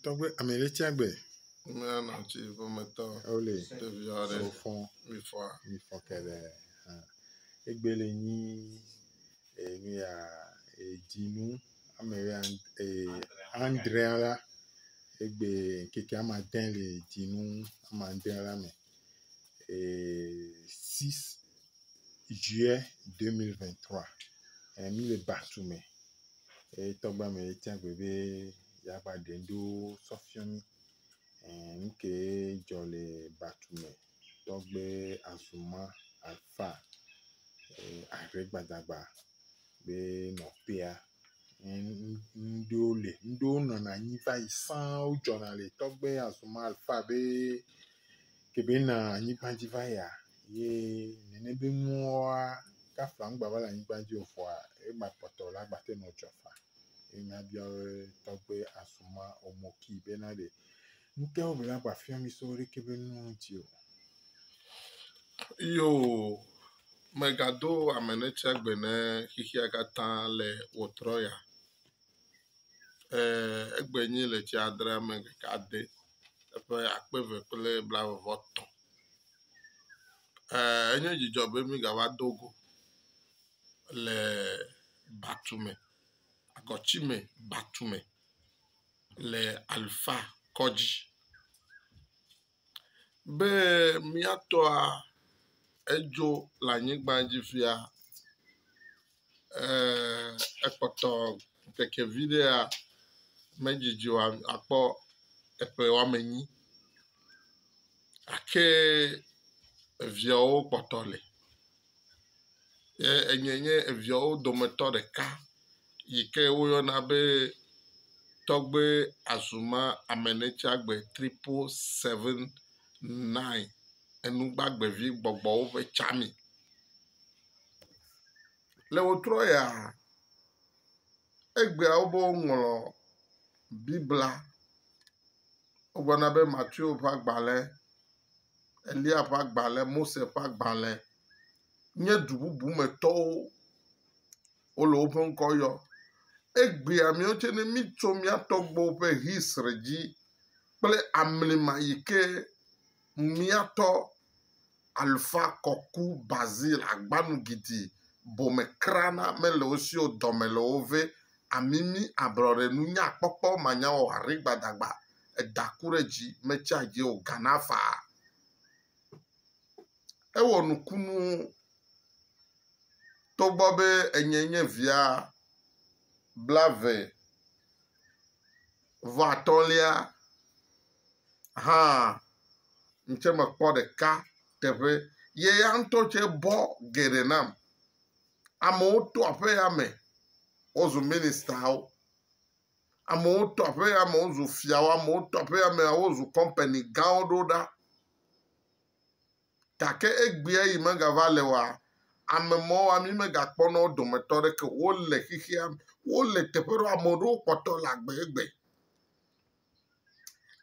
Tɔgbe ame ɖe tsia gbe. Ame anɔ tsi ƒometɔ. Wole. Ɖevi aɖe. Wofɔ. Mifɔ. Mifɔ kele. Egbe le nyi enu ya edzinu ame ya ee andre la egbe keke ama de le dzinu ama de la me ee 6 juillet 2023 emi le batu me. Etɔgba me etia gbe be. ya va ɖe ŋɖewo sɔ fiɔ mí. Ẽ ŋkee dzɔ le batu me tɔgbe azumã afaa e ahre gbadagba be nɔ pea. Ẽ ŋɖewo le ŋɖewo nɔna anyi va yi sãa wodzɔna le tɔgbe azumã alfa be kebe na anyigba dzi va yia ye nene be nuwoa kafla ŋgba va le anyigba dzi o vɔa egba kpɔtɔ la gba te nɔ dzɔ faa. Ye nya biawe tɔgbe asuma omoki bena ɖe ŋteo be la gba fiɔ mi so ɖeke be nu ŋti o. Yo megado amenetsia gbe ne xixia katã le wòtrɔ ya. Ee, egbe nyi le tsi adre ame ɖeka ade eƒe akpe ve kple blavevɔ tɔ̃. Ee, enye dzidzɔ be migava do go. le batume, agɔtime batume le Alfa kɔdzi be mía tɔa edzo le anyigba dzi fia ee ekpɔtɔ ŋkeke vi ɖea medzidzi o akpɔ eƒe woame enyi gake eviawo kpɔtɔ li. ye enye nye eviawo dometɔ ɖeka yi ke woyɔna be Tɔgbe Azuma Amenetsagbe Tripo Seven Nine Enugbagbevi Gbɔgbɔwo ƒe tsami. Ne wotrɔ yia egbea wo be woŋlɔ Biblia wogblɔna be Mateo ƒe agbale. Elia ƒe agbalẽ, Mose ƒe agbalẽ nye du bubu me tɔwo wole woƒe ŋkɔ yɔ. Egbea miawo tse ne mitso mia tɔgbuiwo ƒe history dzi kple amlima yi ke miatɔ Alfa Kɔku Basil Agbanu Gidi Bomekra na mele wo si o dɔme le wo ve amimi, ablɔɖe, nunyakpɔkpɔ, manyawɔwɔ, aɖi gbadagba, eda ku ɖe dzi, metsia dzi o, gana faa. Ewɔ nukunuwo togbɔ be enye nye via blave vɔ atɔ̃lia hã ŋtsɛ mekpɔ ɖeka teƒe. Ye ya ŋutɔ tsɛ bɔ geɖe nam. Amewo to aƒe ya me wozu ministawo. Amewo to aƒe ya me wozu fiawo. Amewo to aƒe ya me wozu kɔmpani gãwo ɖo ɖa. Gake egbea yi megava le wa, ame mawo mi megakpɔ na wo dometɔ aɖeke. Wole xexea me. Wole teƒe ɖewo ame aɖewo kpɔtɔ le agbe egbe.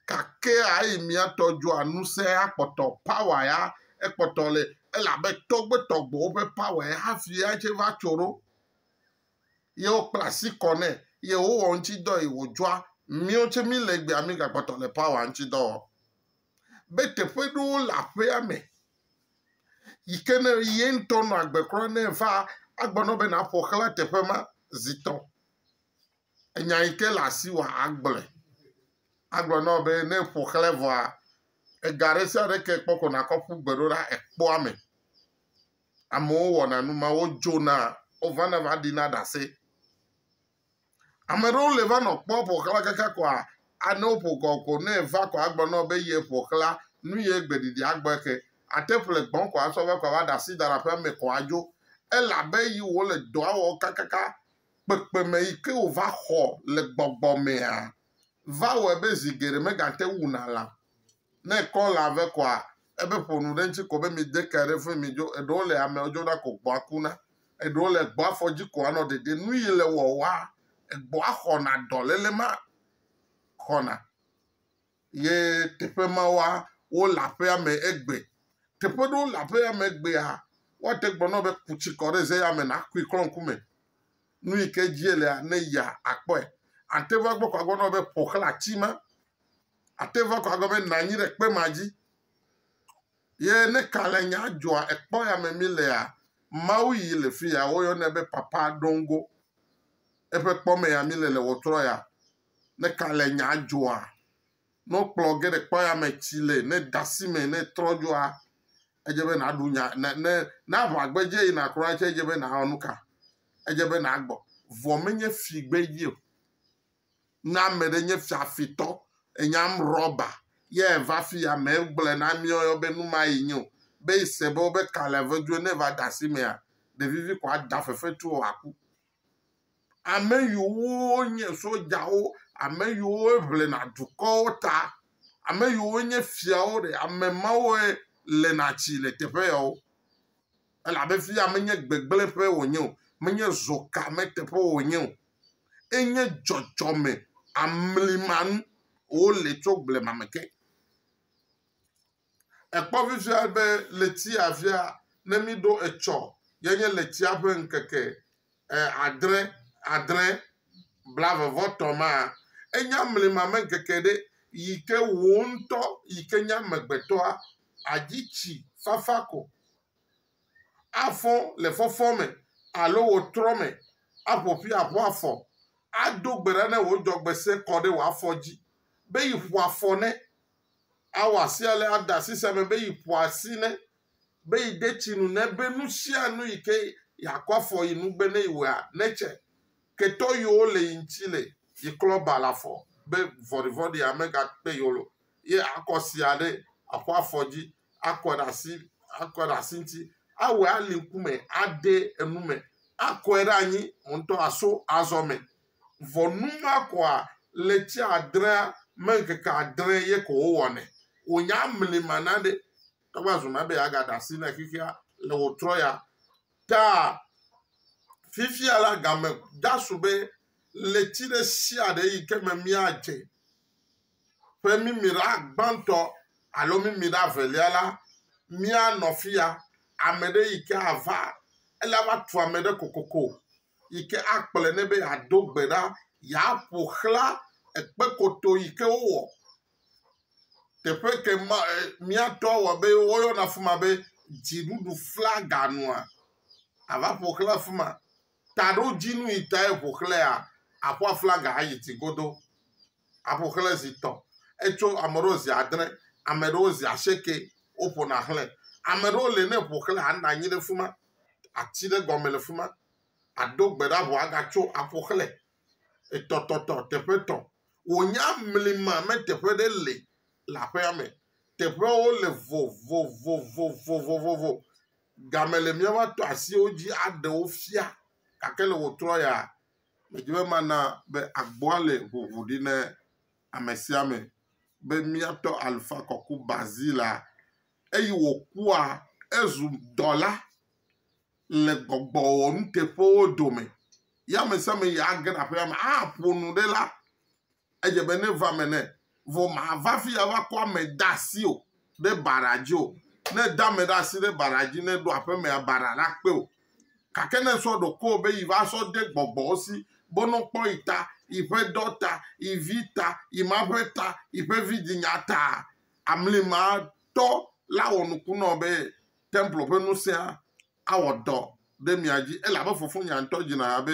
Gake eyi mía tɔ dzɔa ŋusẽ ya kpɔtɔ power ya ekpɔtɔ le elabe tɔgbetɔgbewo ƒe power ya hafi ya tse va tso ɖo. Ye wokpla asi kɔ nɛ ye wowɔ ŋuti dɔ yi wòdzɔa. Míwo tse mí le egbea mí gakpɔtɔ le power ŋuti dɔ wɔm. Be teƒe ɖewo le aƒea me yi ke ne ye ŋutɔ nɔ agbe kura ne va agbɔ na wò be nàƒo xla teƒe ma zi tɔ. enya yi ke le asi wòa agblɔe. Agblɔ na wò be ne eƒo xlẽ vɔa, ega ɖe sia ɖe ke ekpɔ ko nàkɔ ƒu gbe ɖo ɖa ekpɔa eme. Amewo wɔna nu ma, wodzona, wovana va ɖina ɖase. Ame aɖewo li va nɔ kpɔ ƒo xlã kaka koa, ne woƒo kɔ ko ne eva koa, agblɔ na wò be ye ƒo xlã, nu ye gbe ɖiɖi agbɔ eke. Ate ƒle gbɔ ko asɔ va ko ava ɖe asi da ɖe aƒea me ko adzo. Ele abe yi wòle dɔa wɔm kakaka kpekpeme yi ke wòva xɔ le gbɔgbɔ mea, va wɔe be zi geɖe megate ŋu wuna lã. Ne ekɔ lã vɛ koa, ebe ƒo nu ɖe eŋuti ko be mide ke ɖe ƒe midzo. Eɖewo le amewo dzona ko gbɔ̃a kuna. Eɖewo le gbɔ̃a fɔ dzi ko anɔ ɖeɖem. Nu yi le wɔwɔa, gbɔ̃a xɔna dɔléle ma xɔna. ye teƒe ma wa wole aƒea me egbe. Teƒe ɖewo le aƒea me egbea, woate gbe nɔ be ku tsi kɔ ɖe ze ya me nakui klɔ ŋku me. Nu yi ke dzie lea, ne yia akpɔe. Ate va gbɔ ko agblɔ nɔ be ƒo xlã ati ma. Ate va ko agblɔ be na anyi ɖe kpe ma dzi. Ye ne kalẽnya dzɔa ekpɔ ya me mí lea, Mawu yi le fi ya woyɔnɛ be Papa Dongo. Eƒe kpɔ me ya mí le le ɣetrɔ ya. Ne ka le nya dzɔa? Ne wokplɔ ge ɖe kpɔyame tsi le, ne de asi me, ne trɔ dzɔa, edze be nàɖu nya. Ne, ne, ne aʋa gbedze yina kura tsɛ, edze be nàwɔ nu ka? Edze be nàgbɔ. Vɔ menye fi gbedzi o. Ne ame ɖe nye fiafitɔ, enyam rɔba, ye eva afi ya, megblɔe na mí woyɔ be nu ma ye nye o. Be ese be wobe ka le vedu ne eva de asi mea, ɖevivi ko ada fefetu o wòaku. Ame yiwo nye sodzawo, ame yiwo ŋlena dukɔwo ta, ame yiwo nye fiawo ɖe, ame mawoe lena tsi le teƒe yawo. Elabe fi ya menye gbegblẽƒe wònye o, menye zɔka me teƒe wònye o. Enye dzɔdzɔme amlimanu wole tso blema me ke. Ekpɔ vivia be letsia via ne míɖo etsɔ ye nye letsia ƒe ŋkeke adre, adre, blave vɔ tɔ̃ ma. Enya mlima me ŋkeke ɖe yi ke wò ŋutɔ yi ke nye amegbetɔa adzi tsi fafa ko, afɔ le fɔfɔ me alo wò trɔ me aƒo ƒi aƒo afɔ ado gbe ɖa ne wò dzɔgbese kɔ ɖe wò afɔ dzi be yi ƒo afɔ ne. awɔ asi ale ada asi sia me be yi ƒo asi ne be yi de tsi nu ne be nu sia nu yi ke yi akɔ afɔ yi nu be ne yi wɔa ne tse ketɔ yiwo le yi ŋuti le yi klɔ ba le afɔ be vɔɖivɔɖi ame ga kpe yiwo lo ye akɔ sia ɖe aƒo afɔ dzi akɔ ɖe asi akɔ ɖe asi ŋuti awɔe ali ŋkume ade enu me akɔe ɖe anyi ŋutɔ aso azɔ me Vɔ nu ma kɔa ɣleti adrea me ŋkeke adre ye ko wowɔnɛ. Wò nya mli ma na ɖe eva zu na be ya ga ɖa si ne xexea le wò trɔ ya ta. Fifia la game da su be ɣleti ɖe sia ɖe yi ke me mia dze ƒe mimi ɖa gbãtɔ alo mimi ɖa velia la, mia nɔ fiya. Ame ɖe yi ke ava ele ava tu ame ɖe kokoko. yi ke akplɔe nɛ be yeado gbe ɖa, yeaƒo xlã ekpekoto yi ke wowɔ. Teƒe ke ma e mía tɔwo wɔ be woyɔna afi ma be dziɖuɖu flaga nua, ava ƒo xlã afi ma. Taɖodzinu yi tae ƒo xlãea, àƒo aflaga ayi dzi godoo. aƒo xlẽ zi etɔ̃. Etso ame ɖewo zi adre, ame ɖewo zi asieke woƒona xlẽ. Ame ɖewo le ne eƒo xlẽ anɔ anyi ɖe fima, ati ɖe gɔme le fima, ado gbe ɖa vɔ agatso aƒo xlẽ. Etɔtɔtɔ, teƒe etɔ̃. Wònya mlima me teƒe ɖe le le aƒea me. Teƒewo le vovovovovovovo. Game le mía va tɔ asiwo dzi aɖe wo fia gake le wòtrɔ ya, Medi be mana be agboa le ʋuʋu ɖi na ame sia ame be míatɔ Alfa kɔku Bazilea. Eyi wòkua ezu dɔla le gbɔgbɔwɔnuteƒewo dome. Ye ame sia ame yi age ɖe aƒea me aƒo nu ɖe la, Edze be ne va me ne, vɔ mava fi ava kɔ ame de asi o ɖe bara dzi o. Ne de ame ɖe asi ɖe bara dzi ne ɖo aƒe mea, bara la kpe o. Gake ne sɔ ɖokuiwò be yi va sɔ de gbɔgbɔwo si, bonɔ kpɔ yi ta, yi ƒe dɔ ta, yi vi ta, yi ma ƒe ta, yi ƒe vidinya ta, amli ma tɔ la wɔ nuku nɔ be templo ƒe ŋusẽa awɔ dɔ ɖe mia dzi, elabe fofonye ŋutɔ dzina ha be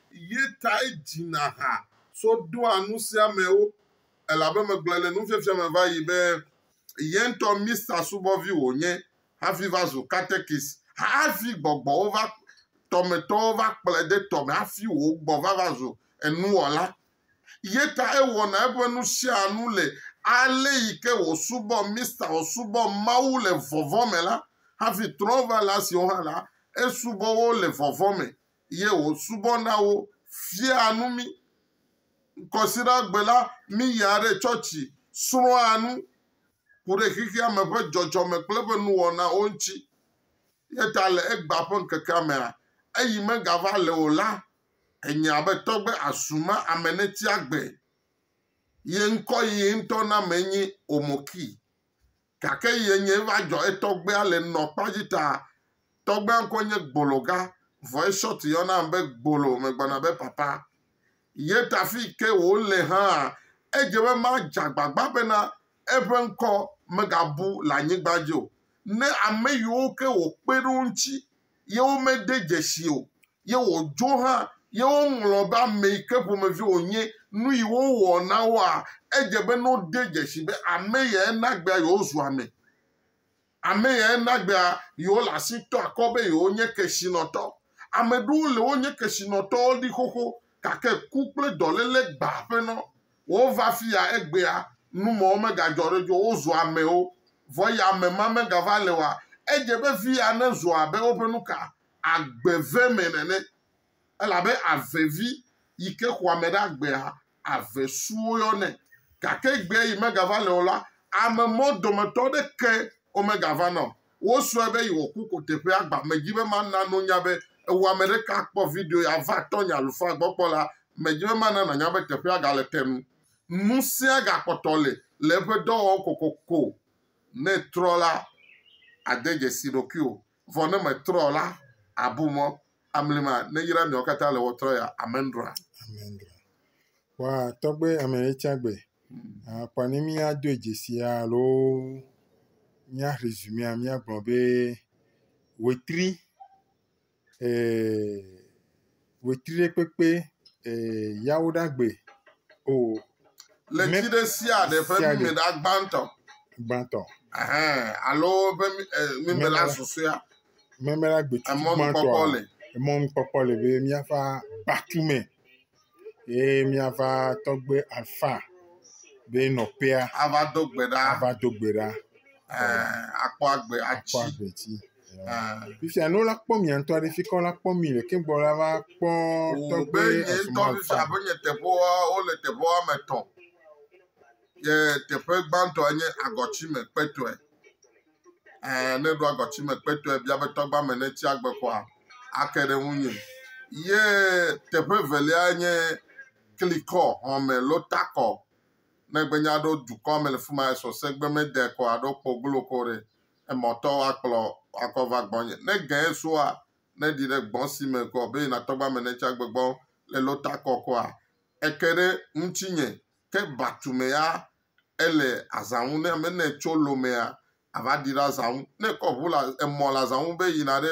Ye tae dzina ha so ɖoa nusiamewo, elabe megblɔe le nufiafia me va yi be ye ŋutɔ Mista subɔvi wònye hafi va zu katekis, hafi gbɔgbɔwo va, tɔmetɔwo va kplɔe de tɔ me hafi wò gbɔ va va zu enuwɔla. Ye tae wɔna eƒe nusianu le ale yi ke wòsubɔ Mista, wòsubɔ Mawu le vɔvɔ̃ me la, hafi trɔ̃ va la siwo hã la, esubɔ wo le vɔvɔ̃ me. eye wòsubɔna wo, fiaa nu mí. Ŋkɔsigbe la, míyia ɖe tsɔtsi, srɔ̃a nu, ku ɖe xexea me ƒe dzɔdzɔme kple eƒe nuwɔnawo ŋuti. Eya ta le egbea ƒe ŋkekea mea, eyi megava le o la, enye abe tɔgbe asuma ame neti agbe. Ye ŋkɔ yi ŋutɔ na me nye Omoki. Gake yi enyae va dzɔ etɔgbea le nɔ kpa dzi ta. Tɔgbea ŋkɔe nye Gbologa, vɔ eShort yɔna am be Gbolo megblɔna be papa. Ye ta fii ke wòle hãa, edze be madze agbagba bena eƒe ŋkɔ megabu le anyigba dzi o. Ne ame yiwo ke wòkpe ɖe wo ŋuti ye womede dzesi o, ye wòdzo hã, ye woŋlɔ be ame yi ke ƒomevi wònye, nu yi wowɔ na woa, edze be ne wode dzesi be ame yae na egbea yewozu ame, ame yae na egbea yewole asi tɔ akɔ be yewonye kesinɔtɔ. Ame ɖewo le wonye kesinɔtɔwo ɖi xoxo gake ku kple dɔléle gbãa ƒenɔ Wova fiya egbea, nu mawo megadzɔ ɖe edzi o, wozu amewo. Vɔ ya ame ma megava le oa? Edze be viya nezu abe woƒe nuka? Agbe ve me nene. Elabe ave vi yi ke xɔ ame ɖe agbea, ave su woyɔnɛ. Gake egbea yi megava le o la, ame mawo dometɔ aɖeke womegavana o. Wosrɔe be yewoku koteƒe agba medzi be mana nonya be ewɔ ame ɖeka akpɔ video ya va tɔnye alufaa gbɔ kpɔ la medzi be mana nanya be teƒea gale te nu nusia gakpɔtɔ le le eƒe dɔwɔwɔ kokoko ne etrɔ la ade dzesi ɖokuiwò vɔ ne metrɔ la abu mɔ Amlima neyra miawo katã le wɔtrɔ ya. Amendra. Amendra. Wa tɔgbe ame etsagbe. Akpa ne mi ado edzesi alo mia rezumea mia gblɔ be wetri eh wetri ɖe kpekpe eh yawo ɖagbe o. Oh, Le ti ɖe sia ɖe ƒe mime ɖa gbãtɔ. Gbãtɔ. Alo ƒe mime la susɔea. Meme la gbe tutu Emɔ nukpɔkpɔ gbãtɔa, le. emɔ nukpɔkpɔ le be míava kpatu me ye míava tɔgbe Alfa be nɔƒea Ava do gbe ɖa. ava do gbe ɖa Ɛɛ, akpɔ agbe kpɔ atsi. agbe dzi. Ɛɛ. Fifia ne wola kpɔ mia ŋutɔ ɖe, fi ka wola kpɔ mi le ke gbɔ la va kpɔ Wò tɔgbe be nye esumɔ ŋutɔ Alfa. fifia be nye teƒewoa, wole teƒe woame etɔ̃. Ye teƒe gbãtɔe nye agɔtsi me kpetɔe. ɛɛ ne ɖo agɔtime kpɛtɔe bia be tɔgba me ne tsi agbe koa, ake ɖe ŋunye. Ye teƒe evelia nye klikɔ, xɔme lo takɔ. Ne egbe nye aɖo dukɔ me le fima esɔ se gbe me de koa aɖo kpo glo ko ɖe emɔ tɔ wa kplɔ akɔ va gbɔ nye. Ne gɛ soa ne ɖi ɖe gbɔ si me kɔ be yina tɔgba me ne tsi agbe gbɔ le lo takɔ koa, eke ɖe ŋutsi nye. Ke batume ya ele azã ŋu ne ame ne tso lomea ava ɖi ɖe azã ŋu. Ne ekɔ ŋu le emɔ le azã ŋu be yina ɖe